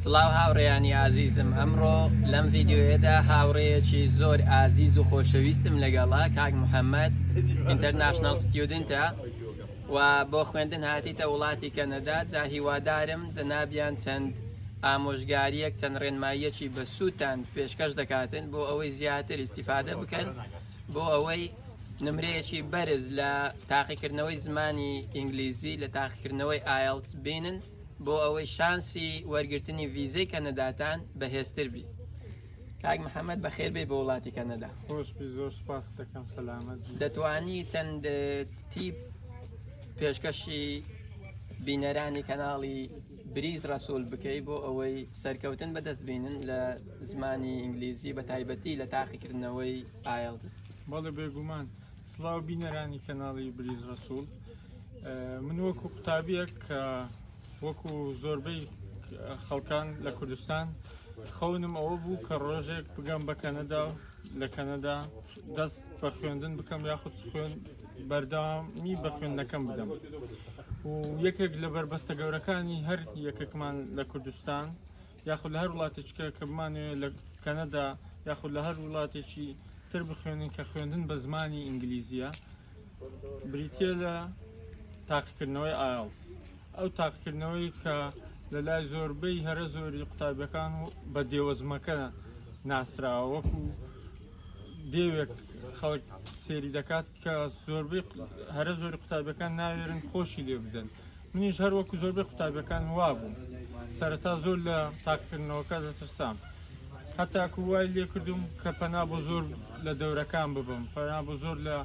سڵاو هاوڕێیانی ئازیزم ئەمڕۆ لەم ڤیددیوهێدا هاوڕێیەکی زۆر ئازیز و خۆشەویستم لەگەڵا کاک محەممەد ئینتەرناشنال ستودنتە و بۆ خوێندن هاتیتە وڵاتی کەنەدا جا هیوادارم جەنابیان چەند ئامۆژگاریەک چەند ڕێنماییەکی بە سووتان پێشکەش دەکاتن بۆ ئەوەی زیاتر ئیسیفادە بکەن بۆ ئەوەی نمرەیەکی بەرز لە تاقیکردنەوەی زمانی ئینگلیزی لە تاقیکردنەوەی ئایلس بینن بۆ ئەوەی شانسی وەرگرتنی ڤیزەی کەنەداتان بەهێزتر بی کاک محمد بەخێر بێ بۆ وڵاتی کەنەدا خۆش زۆر سپاس دەکەم سەلامەت دەتوانی چەند تیپ پێشکەشی بینەرانی کەناڵی بریز ڕسوول بکەی بۆ ئەوەی سەرکەوتن بەدەست بینن لە زمانی ئینگلیزی بە تایبەتی لە تاقیکردنەوەی ئایلتس بەڵێ بێگومان سلااو بینەرانی کەناڵی بریز ڕسوول من وەکو قوتابیەک کە وەکو زۆربەی خەڵکان لە کوردستان خەونم ئەوە بوو کە ڕۆژێک بگەم بە کەنەدا و لە کەنەدا دەست بە خوێندن بکەم یاخود خوێن بەردامی بە خوێندنەکەم بدەم و یەکێک لە بەربەستە گەورەکانی هەر یەکێکمان لە کوردستان یاخود لە هەر وڵاتێکە کە بمانەوێت لە کەنەدا یاخود لە هەر وڵاتێکی تر بخوێنین کە خوێندن بە زمانی ئینگلیزیە بریتە لە تاقیکردنەوەی ئاڵس ئەو تاقیکردنەوەی کە لە لای زۆربەی هەرە زۆری قوتابیەکان و بە دێوەزمەکە ناسراوە وەکو دێوێک خەڵک سێری دەکات کە زۆربەی هەرە زۆری قوتابیەکان ناوێرن خۆشی لێ بدەن منیش هەر وەکو زۆربەی قوتابیەکان وابووم سەرەتا زۆر لە تاقکردنەوەکە دەترسام هەتاکو وای لێ کردوم کە پەنا بۆ زۆر لە دەورەکان ببم پەنا بۆ زۆر لە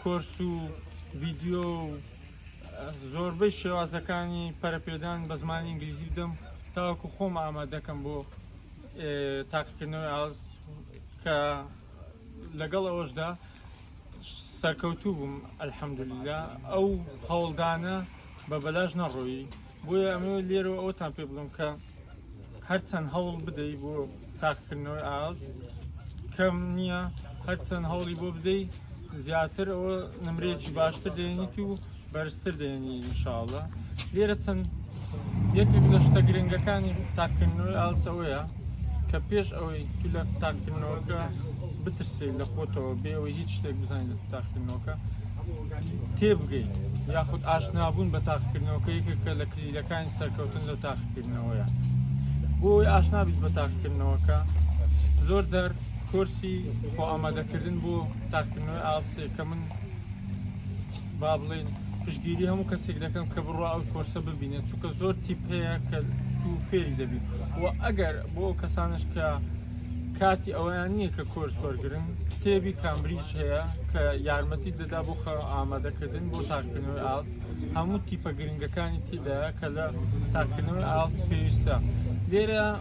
کۆرس و ڤیددیو زۆربەی شێوازەکانی پەرپێدان بە زمانی ئینگلیزی بدەم تاوەکو خۆم ئامادەکەم بۆ تاقیکردنەوەی ئاز کە لەگەڵ ئەوەشدا سەرکەوتوو بووم ئەلحەمدللا ئەو هەوڵدانە بە بەلاش نەڕۆیی بۆیە ئەمە لێرە ئەوتان پێ بڵم کە هەرچەند هەوڵ بدەی بۆ تاقکردنەوەی ئاڵت کەم نییە هەرچەند هەوڵی بۆ بدەیت زیاتر ئەوە نمرێکی باشتر دێنیت و بەرزتر دێنی انشاءاللە لێرە چەند یەکێک لە شتە گرنگەکانی تاکردنەوەی ئالس ئەوەیە کە پێش ئەوەی تو لە تاکردنەوەکە بترسێت لە خۆتەوە بێەوەی هیچ شتێک بزانین لە تاکردنەوەکە تێبگەین یاخود ئاشنابوون بە تاقکردنەوەکە یەکێکە لە کلیلەکانی سەرکەوتن لە تاقکردنەوەیە بۆی ئاشنابیت بە تاقکردنەوەکە زۆر جار کۆرسی خۆ ئامادەکردن بۆ تاقکردنەوەی ئاڵسێ کە من با بڵێین پشتگیری هەموو کەسێک دەکەم کە بڕوا ئەو کۆرسە ببینێت چونکە زۆر تیپ هەیە کە تو فێری دەبیت و ئەگەر بۆ ئەو کەسانش کە کاتی ئەویان نییە کە کۆرس وەرگن کتێبی کامبریج هەیە کە یارمەتی دەدا بۆ خە ئامادەکردن بۆ تاکردنەوەی ئاس هەموو تیپە گرنگەکانی تیدا کە لە تاکردنەوەی ئاس پێویستە لێرە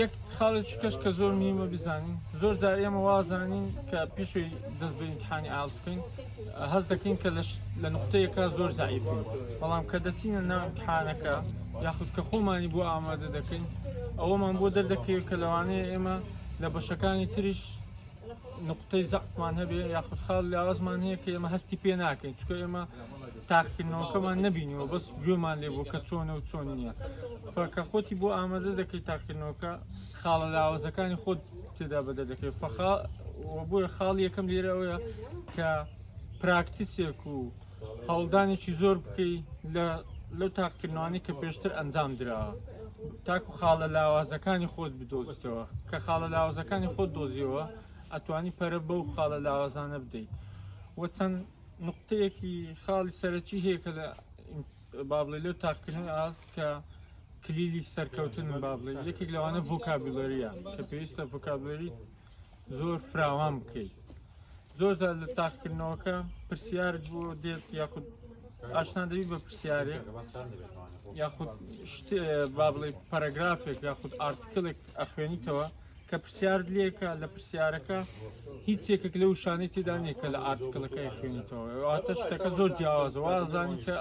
یەک خاڵێکی کەش کە زۆر میوە بزانین زۆر جار ئێمە وازانین کە پیشوی دەست بە ئیمتحانی ئاز بکەین هەست دەکەین کە لە نقطەیەکە زۆر زعیف بەڵام کە دەچینە ناوتحانەکە یاخود کە خۆمانی بۆ ئامادە دەکەین ئەوەمان بۆ دەردەکەوێت کە لەوانەیە ئێمە لە بەشەکانی تریش نقطەی زەقمان هەبێ یاخود خاڵ لە ئازمان هەیە کە ئێمە هەستی پێ ناکەین چکە ئێمە تاقیکردنەوەکەمان نەبینیوە بەس گوێمان لێ بوو کە چۆنە و چۆن نییە فەکە خۆتی بۆ ئامادە دەکەی تاقیکردنەوەکە خاڵە لاوەزەکانی خۆت تێدا بەدە دەکەی فەخا بۆیە خاڵ یەکەم لێرە ئەوەیە کە پراکتیسێک و هەوڵدانێکی زۆر بکەی لە لەو تاقیکردنەوانی کە پێشتر ئەنجام دراوە تاکو خاڵە لاوازەکانی خۆت بدۆزیتەوە کە خاڵە لاوازەکانی خۆت دۆزیەوە ئەتوانی پەرە بەو خاڵە لاوازانە بدەیت وە چەند نوقتەیەکی خاڵی سەرەکی هەیە کە لە با بڵێ لەو تاقکردنەوەی ئاست کە کلیلی سەرکەوتن با بڵێ یەکێک لەوانە ڤۆکابیلەریە کە پێویستە ڤۆکابلەری زۆر فراوان بکەیت زۆر زار لە تاقکردنەوەکە پرسیارت بۆ دێت یاخود ئاشنا دەوی بە پرسیارێک یاخود شت با بڵێ پەرەگرافێک یاخود ئارتکلێک ئەخوێنیتەوە کە پرسیارت لێکە لە پرسیارەکە هیچ یەکێک لە وشانەی تێدا نیە کە لە ئارتکلەکەی خوێنیتەوە واتە شتەکە زۆر جیاوازە وازانی کە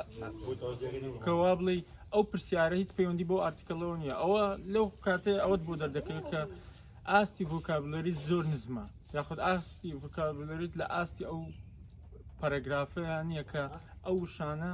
کەوا بڵێ ئەو پرسیارە هیچ پەیوەندی بۆ ئارتکلەوە نیە ئەوە لەو کاتێ ئەوەت بۆ دەردەکەوێت کە ئاستی ڤۆکابلەری زۆر نزمە یاخود ئاستی ڤۆکابلەریت لە ئاستی ئەو پەرەگرافەیان یەکە ئەو شانە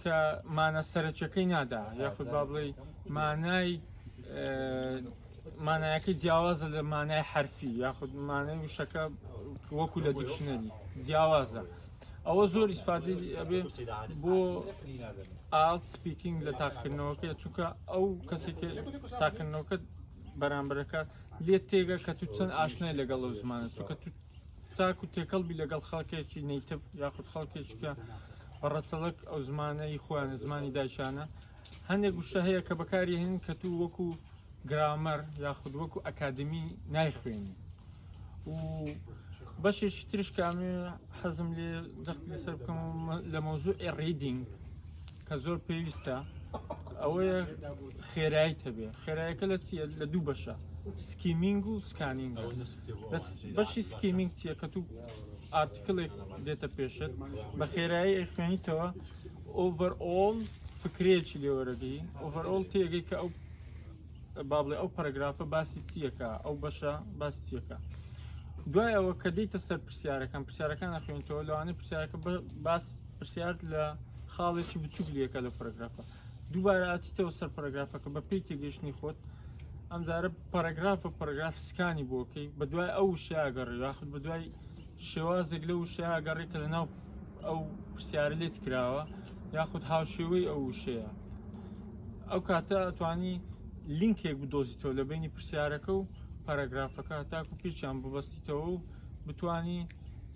کە مانە سەرەکیەکەی نادا یاخود با بڵێ مانای مانایەکە جیاوازە لە مانای حرفی یاخود مانای وشەکە وەکو لە دیکشنەری جیاوازە ئەوە زۆر ئیسفادی ئەبێ بۆ ئاڵ سپیکینگ لە تاقکردنەوەکە چونکە ئەو کەسێک تاکردنەوەکە بەرامبەرەکە لێت تێگە کە تو چەند ئاشنای لەگەڵ ئەو زمانە چونکە تاکو تێکەڵ بی لەگەڵ خەڵکێکی نیتف یاخود خەڵکێکی کە بە ڕەچەڵەک ئەو زمانەی خۆیان زمانی دایشانە هەندێک گوشتە هەیە کە بەکاری هەن کە تو وەکو گرامەر یاخود وەکو ئەکادمی نایخوێنی و بەشێکی ترش کامێ حەزم لێ جەخت لەسەر بکەم لە مەوزوع ڕیدینگ کە زۆر پێویستە ئەوەیە خێرایی تەبێ خێرایەکە لە چیە لە دوو بەشە سکیمینگ و سکانینگ بەس بەشی سکیمینگ چیە کە تو ئارتکلێک دێتە پێشت بە خێرایی ئەخوێنیتەوە ئۆڤەر ئۆڵ فکرێکی لێوەرەگەی ئۆڤەر ئۆڵ تێگەی کە ئەو بابڵێ ئەو پەرگرافە باسی چیەکە ئەو بەشە باسی چیەکە دوای ئەوە کە دیتە سەر پرسیارەکان پرسیارەکان ئەخوێنیتەوە لەوانەیە پرسیارەکە باس پرسیار لە خاڵێکی بچوک لەکە لە پرگرافە دووبارە ئەچیتەوە سەر پەرەگرافەکە بە پێی تێگەیشتنی خۆت ئەمجارە پەرەگراف بە پەرەگراف سکانی بۆکەی بە دوای ئەو وشیاگەڕی یاخود بە دوای شێوازێک لە وشیاگەڕی کە لەناو ئەو پرسیارە لێت کراوە یاخود هاوشێوەی ئەو وشەیە ئەو کاتە ئەتوانی لینکێک بدۆزیتەوە لە بینی پرسیارەکە و پەرەگرافەکە تاکو پێچیان ببەستیتەوە و بتانی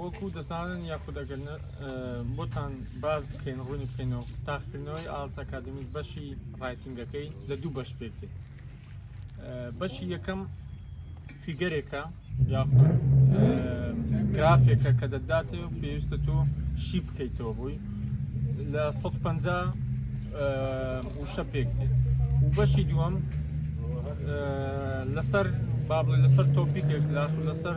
وەکو دەزانن یاخود ئەگەر بۆتان باز بکەین ڕوونی بکەینەوە تاقکردنەوەی ئالس ئەکادمی بەشی ڕایتنگەکەی لە دوو بەش پێکێت بەشی یەکەم فیگەرێکە یاخود گرافێکە کە دەداتێ و پێویستە تۆ شی بکەیتەوە بووی لە 150 وشە پێک و بەشی دووەم لەسەر بابڵێ لەسەر تۆپیکێک لەسەر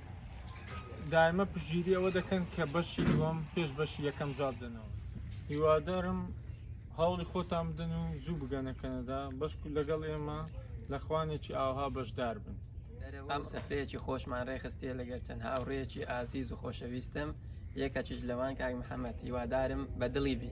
دایمە پشتگیری ئەوە دەکەن کە بەشی دووەم پێش بەشی یەکەم جواب دەنەوە هیوادارم هەوڵی خۆتان بدەن و زوو بگەنە کەنەدا بەشکو لەگەڵ ئێمە لە خوانێکی ئاوها بەشدار بن ئەم سفرەیەکی خۆشمان ڕێخستیە لەگەر چەند هاوڕێکی ئازیز و خۆشەویستم یەکەکیش لەوان کاک محەممەد هیوادارم بە دڵی بی.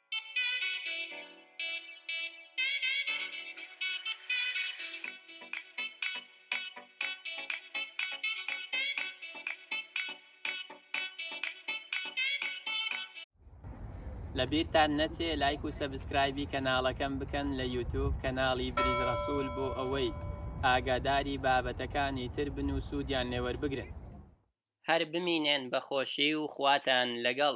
لە بیرتان نەچێ لایک و سەبسکرایبی کەناڵەکەم بکەن لە یوتوب کەناڵی بریز ڕەسوول بۆ ئەوەی ئاگاداری بابەتەکانی تر بن و سوودیان لێوەربگرن هەر بمینێن بە خۆشی و خواتان لەگەڵ.